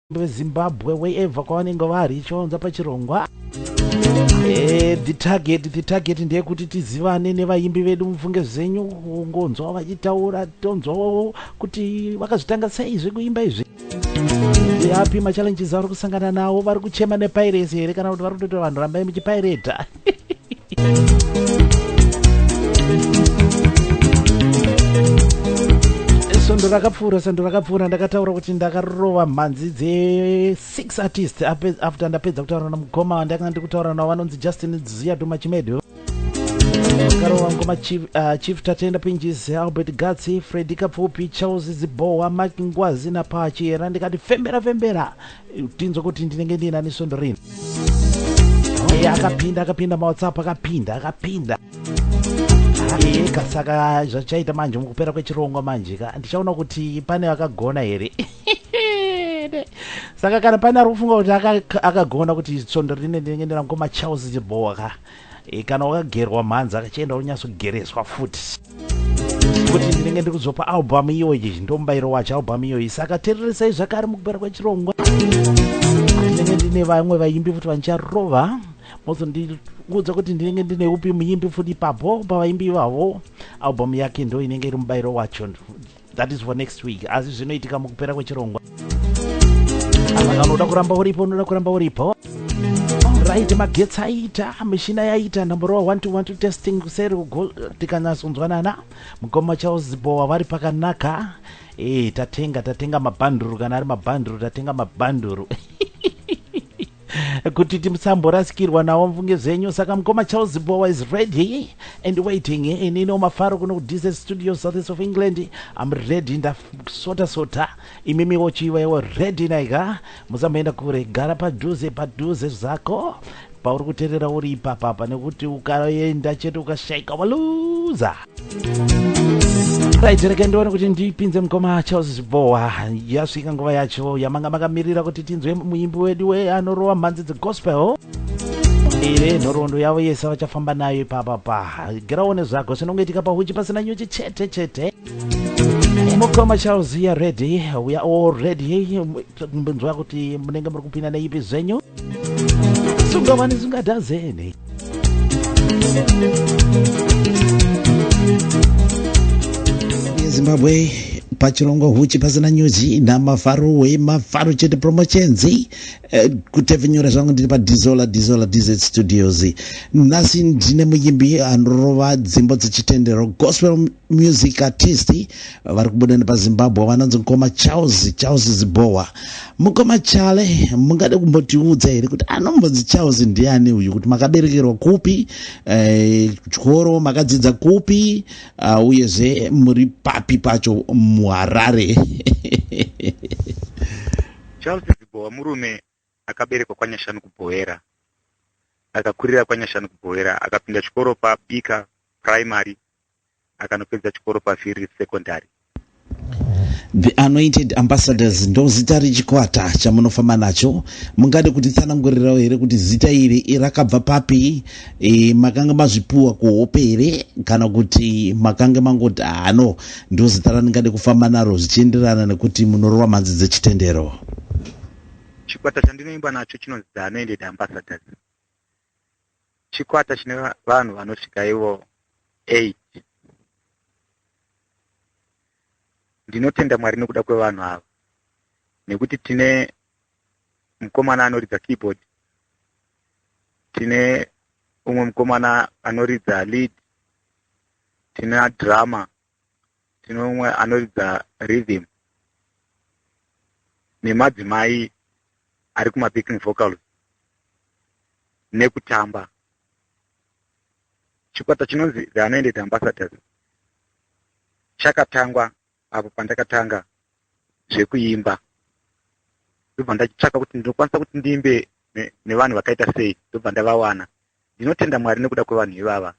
vezimbabwe wherever kwavanenge vari chivaunza pachirongwa eh, the target the target ndeyekuti tizivane nevaimbi vedu mufunge zvenyu kungonzwa vachitaura tonzwawo kuti vakazvitanga sei zvekuimba izvi api machallenges avari kusangana nawo vari kuchema nepairesi here kana kuti vari kutoti vanhu rambai muchipaireta svondo rakapfuura svondo rakapfuura ndakataura kuti ndakarova mhanzi dze6 artist after ndapedza kutaura namukoma wandakanga ndiri kutaura navo vanonzi justin zuya domachimedi akarova ngoma chief, uh, chief tatenda pinjis albert gatsi fredi kapfupi charles zibowa mak ngwazi napachi era ndikati fembera fembera tinzwe kuti ndinenge ndiinani svondo rini e akapinda akapinda mawhatsapp akapinda akapinda eka saka zvachaita manje mukupera kwechirongwa manje ka ndichaona kuti pane vakagona here saka kana pane ari kufunga kuti akagona kuti svondo rine ndinenge ndina mukoma charles chibhowa ka Eh, kana wakagerwa mhanzi akachienda unonyatsogereswa futi kuti ndinenge ndiri kuzopa albhamu iyoyi ndomubairo wacho albhamu iyoyi saka tereresai zvakare mukupera kwechirongwa ndinenge ndine vamwe vaimbi futi vanicharova mozondiudza kuti ndinenge ndine upi muimbi futi ipapo pavaimbi ivavo albhamu yake ndo inenge iri mubairo wacho that is for next week asi zvinoitika mukupera kwechirongwa saka kana unoda kuramba uripo unoda kuramba uripo right magetsi aita mishina yaita number one to one to testing kuseri tikanyatsonzwanana mukoma charles zibowa vari pakanaka e tatenga tatenga mabhanduru kana ari mabhanduru tatenga mabhanduru kuti timusamborasikirwa nawo mfunge zvenyu saka mukoma charles bowa is ready and waiting ini no mafaro kuno kudise studio southeast of england am ready ndasota sota imimi wochiiwewo ready naika musamboenda kure gara padhuze padhuze zvako pauri kuterera uri ipapapa nekuti ukaenda chete ukashaika waluza right rega ndione kuti ndipinze mukoma charles zibhowa yasvika nguva yacho yamanga makamirira kuti tinzwe muimbi wedu we anorova mhanzi dzegospel ire nhoroondo yavo yese vachafamba nayo ipapa pa giraone zvako zvinongoitika pahuchi pasina nyuchi chete chete mukoma charles ya ready we are all ready mbinzwa kuti munenge muri kupinda neipi zvenyu sungavani zungadazeni yezimbabwe pachirongwa huchi pasina nyuchi namafaro wemafaro chete promotions eh, kutepfenyura zvangu ndiri padizola dizola dz studios nhasi ndine muyimbi anorova dzimbo dzechitendero gospel music artist vari kubuda nepazimbabwe vanonzi mukoma charles charles zibowa mukoma chale mungade kumbotiudza here kuti anombonzi charles ndiani uyu kuti makaberekerwa kupi eh, chikoro eh, makadzidza kupi uh, uyezve muri papi pacho muharare charles zibowa murume Akaberekwa kwaNyashanu kuBhoera. Akakurira kwaNyashanu kuBhoera. Akapinda chikoro paBika Primary akanopedza chikoro paVhiri Secondary. The Anointed Ambassadors ndozita rechikwata chamunofamba nacho. Mungade kutitsanangurirawo here kuti zita iri rakabva papi? E, makange mazvipuwa kuhope here kana kuti makange mangoti hano ndozita randingade kufamba naro zvichienderana nekuti munorova mhanzi dzechitendero? Chikwata chandinoimba nacho chinonzi The Anointed Ambassadors. Chikwata chine vanhu vanosvika ivo 8. Ndinotenda Mwari nekuda kwevanhu ava nekuti tine mukomana anoridza keyboard, tine umwe mukomana anoridza lead, tina drama tine umwe anoridza rhythm nemadzimai ari kumabacking vocals nekutamba chikwata chinonzi the anoended ambassadors chakatangwa apo pandakatanga zvekuimba ndobva ndachitsvaka kuti ndinokwanisa kuti ndiimbe nevanhu vakaita sei ndobva ndavawana ndinotenda mwari nekuda kwevanhu ivava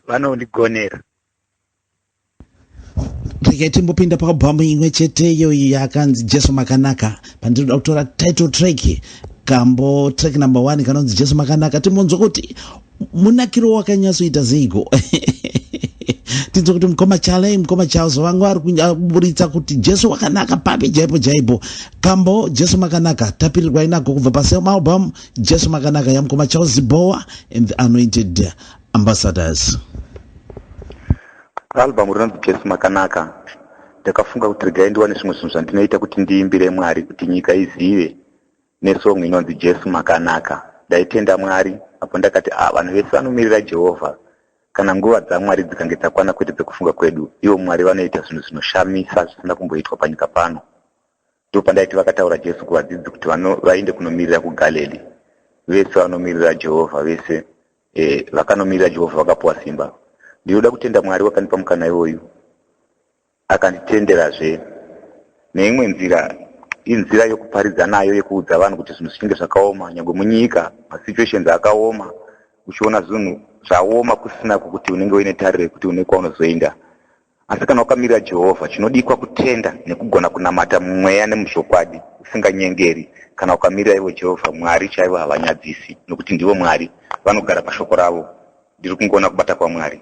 vanondigonera vano regai timbopinda paabhamu imwe chete iyoyi yakanzi jesu makanaka pandinoda kutora title track kambo track number one kanonzi jesu makanaka timbonzwa kuti munakiro wakanyatsoita zeiko tinzwa kuti mukoma chale mukoma charles vangu ari kuburitsa kuti jesu wakanaka papi jaipo jaipo kambo jesu makanaka tapirirwa inako kubva paselmaalbum Jesu makanaka yamkoma Charles Zibowa and the anointed ambassadors. Album rinonzi Jesu makanaka. Ndakafunga kuti regai ndiwane zvimwe zvinhu zvandinoita kuti ndiimbire Mwari kuti nyika izive nesong inonzi Jesu makanaka. Ndaitenda Mwari apo ndakati ah vanhu vese vanomirira Jehovha kana nguva dzaMwari dzikange dzakwana kwete dzekufunga kwedu. Ivo Mwari vanoita zvinhu zvinoshamisa zvisina kumboitwa panyika pano. Ndopandaiti vakataura Jesu kuvadzidzi kuti vano, vaende kunomirira kuGalili. Vese vanomiririra Jehovha, vese e, vakanomirira Jehovha vakapuwa simba. Ndinoda kutenda Mwari wakandipa mukana iwoyu, akanditenderazve neimwe nzira inzira yokuparidza nayo yekuudza vanhu kuti zvinhu zvichinge zvakaoma nyangwe munyika masituations akaoma uchiona zvinhu zvaoma kusina kuti unenge uine tariro yekuti une kwaunozoenda Asi kana wakamirira Jehovha, chinodikwa kutenda nekugona kunamata mumweya nemuzvokwadi, usinganyengeri. Kana ukamirira ivo Jehovha, Mwari chaivo havanyadzisi, nokuti ndivo Mwari, vanogara paShoko ravo. Ndiri kungoona kubata kwaMwari.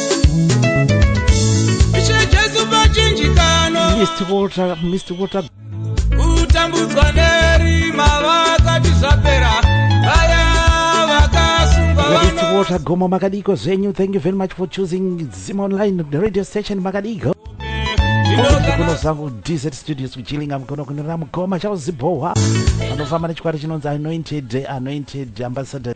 kutambudzwa nerima vakati zvapera vaya vakasungwaagoma makadiko zvenyu thank you very much for choosing zima online radio station makadiko kuno zangu dz studios kuchilinga mkono kunira mukoma chauzibhohwa anofamba nechikwari chinonzi anointed anointed ambassador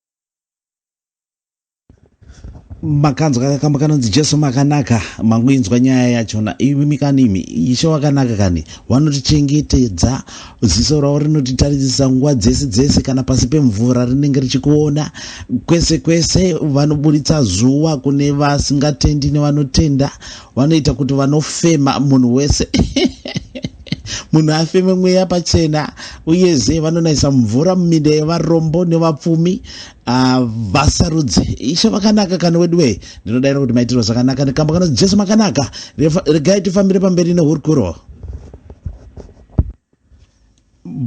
makanzwa kakamba kanonzi jesu makanaka mangoinzwa nyaya yachona imi kani imi ishe wakanaka kani wanotichengetedza ziso ravo rinotitarisisa nguva dzese dzese kana pasi pemvura rinenge richikuona kwese kwese vanoburitsa zuva kune vasingatendi nevanotenda vanoita kuti vanofema munhu wese munhu afeme mweya pachena uyezve vanonayisa mvura muminda yevarombo nevapfumi ah, vasarudze ishe vakanaka kani wedu wee ndinodaira kuti maitirwa zvakanaka nekamba kana jesu makanaka regai tifambire pamberi nehurukuro